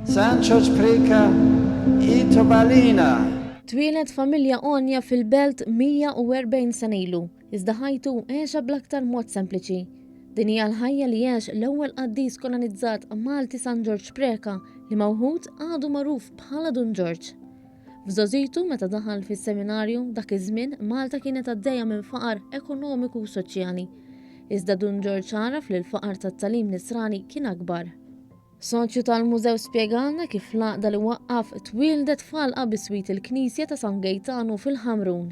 Sancho Spreca Itobalina. Twieled familja għonja fil-belt 140 sena ilu, iżda ħajtu għexa bl-aktar mod sempliċi. Din hija l-ħajja li għex l-ewwel qaddis kolonizzat Malti San Ġorġ Preka li mawħud għadu magħruf bħala Dun Ġorġ. F'żgħożitu meta daħal fis-seminarju, dak iż-żmien Malta kienet għaddejja minn faqar ekonomiku u soċjali. Iżda Dun Ġorġ għaraf li l-faqar tat-tagħlim Nisrani kien akbar. Soċju tal-Mużew spjegalna kif fl-għaqda li waqqaf twieldet f'għalqa biswit il-Knisja ta' San Gejtanu fil-Ħamrun.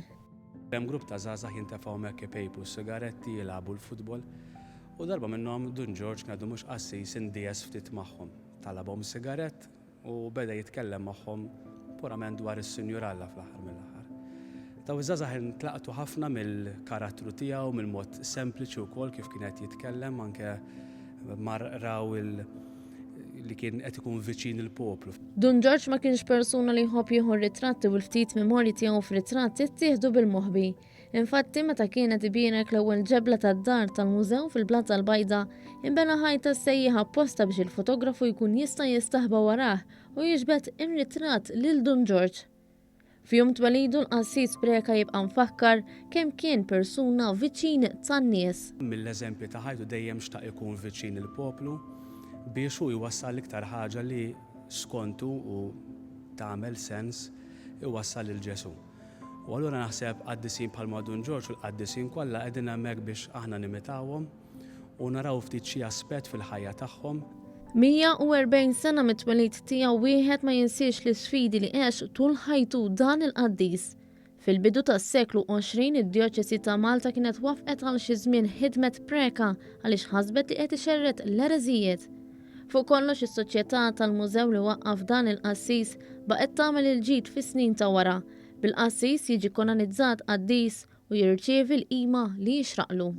Hemm grupp ta' żgħażagħ jintefgħu hemmhekk ipejpu s-sigaretti, jilagħbu l-futbol. U darba minnhom Dun Ġorġ kien għadu mhux qassis indies ftit magħhom. Talabhom sigarett, U beda jitkellem magħhom purament dwar is-Sinjur Alla fl-aħħar mill-aħħar. Dawn iż-żgħażagħ intlaqtu ħafna mill-karattru tiegħu, mill-mod sempliċi wkoll kif kien qed jitkellem anke mar raw il li kien qed ikun viċin il-poplu. Dun Ġorġ ma kienx persuna li jħobb jieħu ritratti u l-ftit memorji tiegħu f'ritratti ttieħdu bil-moħbi. Infatti, meta kienet ibierek l-ewwel ġebla tad-dar tal-mużew fil-Plaza l-Bajda, inbena ħajt tas-sejjieħ apposta biex il-fotografu jkun jista' jistaħba warah u jiġbed ir-ritratt lil Dun Ġorġ. F'jum twelidu l-qassis Preca jibqa' mfakkar kemm kien persuna viċin tan-nies. Mill-eżempji ta' ħajtu dejjem xtaq ikun viċin il-poplu biex hu jwassal l-iktar ħaġa li skontu u tagħmel sens iwassal lil Ġesù. U allura naħseb qaddisin bħal ma' Dun Ġorġ u l-qaddisin kollha qegħdin hemmhekk biex aħna nimitawhom u naraw ftit xi aspett fil-ħajja tagħhom. 140 sena mit-twelid tiegħu wieħed ma jinsiex l-isfidi li għex tul ħajtu dan il-qaddis. Fil-bidu tas-seklu 20 id-Djoċesi ta' Malta kienet waffqet għal xi żmien ħidmet preka għaliex ħasbet li qed ixerred l-ereżijiet. Fuq kollox is-soċjetà tal-mużew li waqqaf dan il-qassis baqgħet tagħmel il-ġid fis-snin ta' wara, bil-qassis jiġi konanizzat qaddis u jirċievi l-qima li jixraqlu.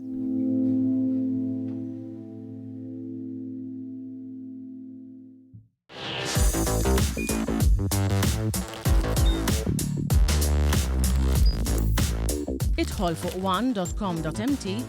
Idħol fuq one dot com dot mt